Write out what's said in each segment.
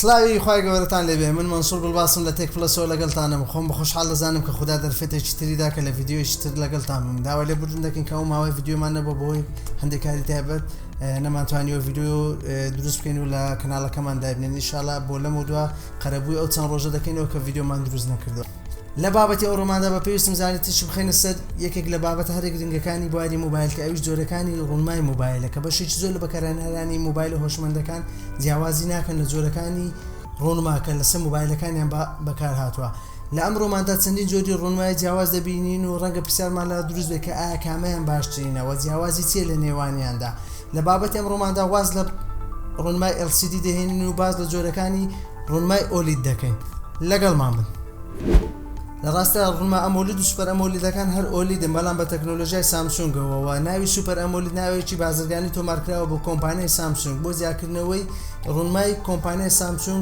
سلاوی خی گەورەتان لێبێ من منسوور بڵباسم لە تێک پلەسەوە لەگەڵتانم خۆم بە خۆشحال دەزانم کە خوددا دەرفێتێکی تریدا کە لە یددیویشی تر لەگەڵتان بم داوا لێ بردن دەکەن کە ئەو ماوەی یددیومان نەبە بۆی هەندێکاری تایبەت نەمانتوانانی وە یددیو دروست بکەین و لە کەناڵەکەمان دابنێن نیشاالله بۆ لەم و دووە قەرەبووی ئەو چەند ڕۆژە دەکەینەوە کە ڤیدیۆمان دروست نەکردووە لە بابەتی ئەو ڕۆماندا بە پێویستم زانی تیشک بخەینە سەر یەکێک لە بابەتە هەرە گرنگەکانی بواری مۆبایل کە ئەویش جۆرەکانی ڕوونمای مۆبایلە کە بەشێکی زۆر لە بەکارهێنەرانی مۆبایلە هۆشمەندەکان جیاوازی ناکەن لە جۆرەکانی ڕوونما کە لەسەر مۆبایلەکانیان بەکارهاتووە. لە ئەمڕۆماندا چەندین جۆری ڕوونمای جیاواز دەبینین و ڕەنگە پرسیارمان لە دروست بێت کە ئایا کامەیان باشترینە و جیاوازی چییە لە نێوانیاندا لە بابەتی ئەمڕۆماندا واز لە ڕوونمای LCD دەهێنین و باس لە جۆرەکانی ڕوونمای ئۆلید دەکەین لەگەڵمان بن. لە ڕاستیدا ڕوونما ئەمۆلید و سوپەر ئەمۆلیدەکان هەر ئۆلیدن بەڵام بە تەکنۆلۆژیای سامسونگەوە و ناوی سوپەر ئەمۆلید ناوێکی بازرگانی تۆمارکراوە بۆ کۆمپانیای سامسونگ بۆ جیاکردنەوەی ڕوونمای کۆمپانیای سامسونگ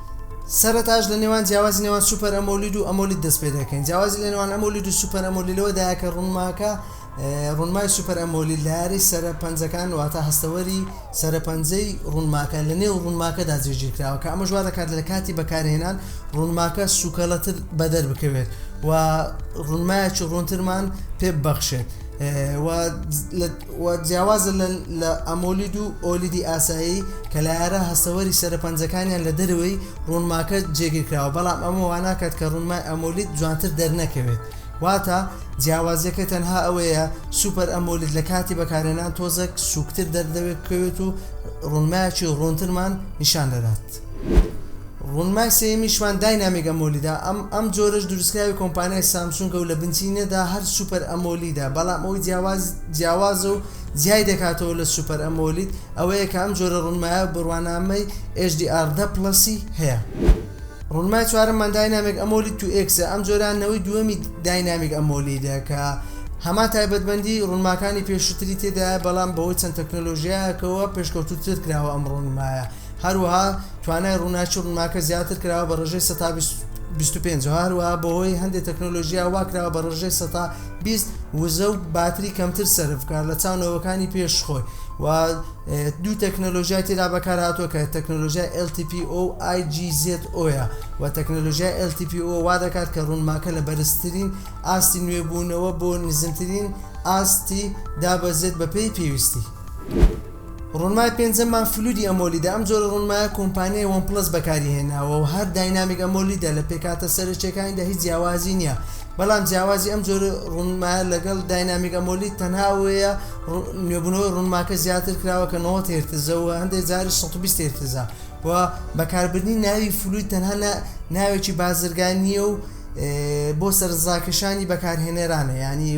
سەرەتاش لە نێوان جیاوازی نێوان سوپەر ئەمۆلید و ئەمۆلید دەست پێ دەکەین جیاوازی لە نێوان ئەمۆلید و سوپەر ئەمۆلی لەوەدایە کە ڕوونماکە ڕوونمای سوپەر ئەمۆلی لارەی سەرە پەنجەکان واتە هەستەوەری سەرە پەنجەی ڕوونماکە لە نێو ڕوونماکەدا جێگیر کراوە کە ئەمەش وا دەکات لە کاتی بەکارهێنان ڕوونماکە سوکەڵەتر بەدەر بکەوێت و ڕوونمایەکی ڕوونترمان پێ ببەخشێت و و جیاوازە لە ئەمۆلید و ئۆلیدی ئاسایی کە لایەرە هەستەوەری سەرە پەنجەکانیان لە دەرەوەی ڕوونماکە جێگیر کراوە بەڵام ئەمە واناکات کە ڕوونمای ئەمۆلید جوانتر دەرنەکەوێت واتە جیاوازیەکە تەنها ئەوەیە سوپەر ئەمۆلید لە کاتی بەکارهێنان تۆزێک سووکتر دەردەکەوێت و ڕوونمایەکی ڕوونترمان نیشان دەدات. ڕوونمای سێیەمیشمان داینامیک ئەمۆلیدە، ئەم ئەم جۆرەش دروستکراوی کۆمپانیای سامسونگە و لە بنچینەدا هەر سوپەر ئەمۆلیدە، بەڵام ئەوەی جیاواز جیاوازە و جیای دەکاتەوە لە سوپەر ئەمۆلید ئەوەیە کە ئەم جۆرە ڕوونمایە بڕوانامەی HDR دە پڵەسی هەیە. ڕوونمای چوارەممان داینامیک ئەمۆلید تو ئێکسە، ئەم جۆرە نەوەی دووەمی داینامیک ئەمۆلیدە کە هەمان تایبەتمەندی ڕوونماکانی پێشووتری تێدایە بەڵام بەهۆی چەند تەکنەلۆژیایەکەوە پێشکەوتووتر کراوە ئەم ڕوونمایە. هەروەها توانای ڕووناکی ڕونماکە زیاتر کراوە بە ڕێژەی سەتا بیست و پێنج، هەروەها بەهۆی هەندێ تەکنۆلۆژیا وا کراوە بە ڕێژەی سەتا بیست وزە و باتری کەمتر سەرف بکات لە چاو نەوەکانی پێش خۆی و دوو تەکنۆلۆژیای تێدا بەکارهاتووە کە تەکنۆلۆژیای LTPO و IGZO ە و تەکنۆلۆژیای LTPO وا دەکات کە ڕوونماکە لە بەرزترین ئاستی نوێبوونەوە بۆ نزمترین ئاستی دابەزێت بەپێی پێویستی. ڕوونمای پێنجەممان فلوودی ئەمۆلیدە، ئەم جۆرە ڕوونمایە کۆمپانیای وەن پڵەس بەکاری هێناوە و هەر داینامیک ئەمۆلیدە، لە پێکهاتە سەرەکییەکانیدا هیچ جیاوازی نییە، بەڵام جیاوازی ئەم جۆرە ڕوونمایە لەگەڵ داینامیک ئەمۆلید تەنها ئەوەیە نوێبوونەوەی ڕوونماکە زیاتر کراوە کە نەوەد هێرتزە و هەندێک جاریش سەد و بیست هێرتزە و بەکاربردنی ناوی فلووید تەنها ناوێکی بازرگانییە و بۆ سەرنجڕاکێشانی بەکارهێنەرانە یانی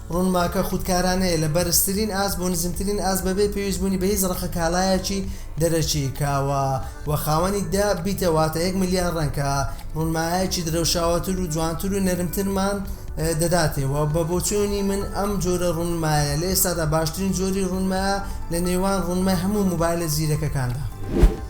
ڕونماکە خودکارانەیە لە بەرزترین ئاست بۆ نزمترین ئاست بەبێ پێویستبوونی بە هیچ ڕەقە کاڵایەکی دەرەکی، کاوە، وە خاوەنی دە بیتە واتە یەک ملیار ڕەنگ کە ڕونمایەکی درەوشاوەتر و جوانتر و نەرمترمان دەداتێ وە بە بۆچوونی من ئەم جۆرە ڕونمایە لە ئێستادا باشترین جۆری ڕونمایە لە نێوان ڕونمای هەموو مۆبایلە زیرەکەکاندا.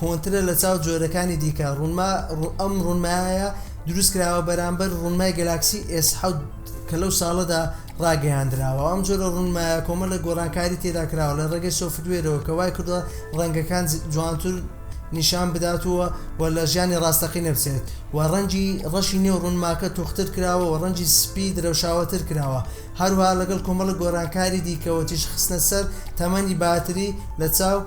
کۆنترە لە چاو جۆرەکانی دیکە ڕونما ئەم ڕونمایە دروست کراوە بەرامبەر ڕونمای گەلاکسی ئێس حەوت کە لەو ساڵەدا ڕاگەیاندراوە ئەم جۆرە ڕونمایە کۆمە لە گۆڕانکاری تێدا کراوە لە ڕێگەی سۆفتوێرەوە کە وای کردوە ڕەنگەکان جوانتر نیشان بداتوە و لە ژیانی ڕاستەقی نەبچێت و ڕەنگی ڕەشی نێو ڕونماکە تۆختر کراوە و ڕەنگی سپی درەوشاوەتر کراوە هەروەها لەگەڵ کۆمەڵێک گۆرانکاری دیکەوە تیشک خستنە سەر تەمەنی باتری لە چاو،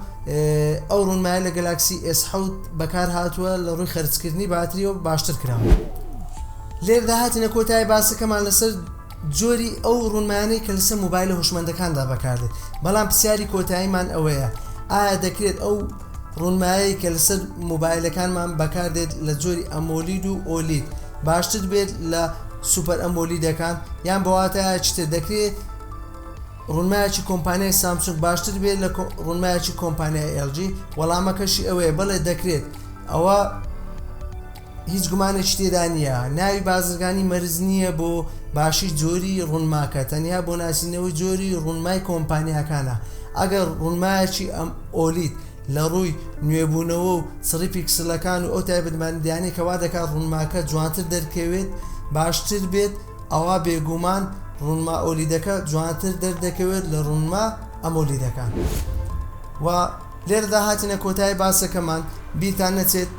ئەو ڕونمایە لە گەلاکسی ئێس حەوت بەکار هاتووە لە ڕووی خەرج کردنی باتریەوە باشتر کراوە. لێرەدا هاتینە کۆتایی باسەکەمان لەسەر جۆری ئەو ڕونمایانەی کە لەسەر مۆبایلە هۆشمەندەکاندا بەکاردێت بەڵام پرسیاری کۆتاییمان ئەوەیە ئایا دەکرێت ئەو ڕونمایەی کە لەسەر مۆبایلەکانمان بەکاردێت لە جۆری ئەمۆلید و ئۆلید باشتر بێت لە سوپەر ئەمۆلیدەکان یان بەواتایەکی تر دەکرێت ڕونمایەکی کۆمپانیای سامسونگ باشتر بێت لە ڕونمایەکی کۆمپانیای ئێلجی وەڵامەکەشی ئەوەیە بەڵێ دەکرێت ئەوە هیچ گومانێکی تێدا نییە ناوی بازرگانی مەرج نییە بۆ باشی جۆری ڕونماکە تەنیا بۆ ناسینەوەی جۆری ڕونمای کۆمپانیاکانە ئەگەر ڕونمایەکی ئەم ئۆلید لە ڕووی نوێبوونەوە و چڕی پیکسلەکان و ئەو تایبەتمەندیانەی کە وا دەکات ڕونماکە جوانتر دەرکەوێت باشتر بێت ئەوا بێگومان ڕونما ئۆلیدەکە جوانتر دەردەکەوێت لە ڕونما ئەمۆلیدەکان وە لێرەدا هاتینە کۆتایی باسەکەمان بیرتان نەچێت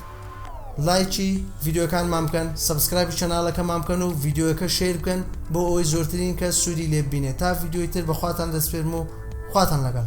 لایکی ڤیدیۆکانمان بکەن سەبسکرایبی چەناڵەکەمان بکەن و ڤیدیۆەکە شیر بکەن بۆ ئەوەی زۆرترین کەس سوودی لێببینێت تا ڤیدیۆی تر بەخواتان دەسپێرم و خواتان لەگەڵ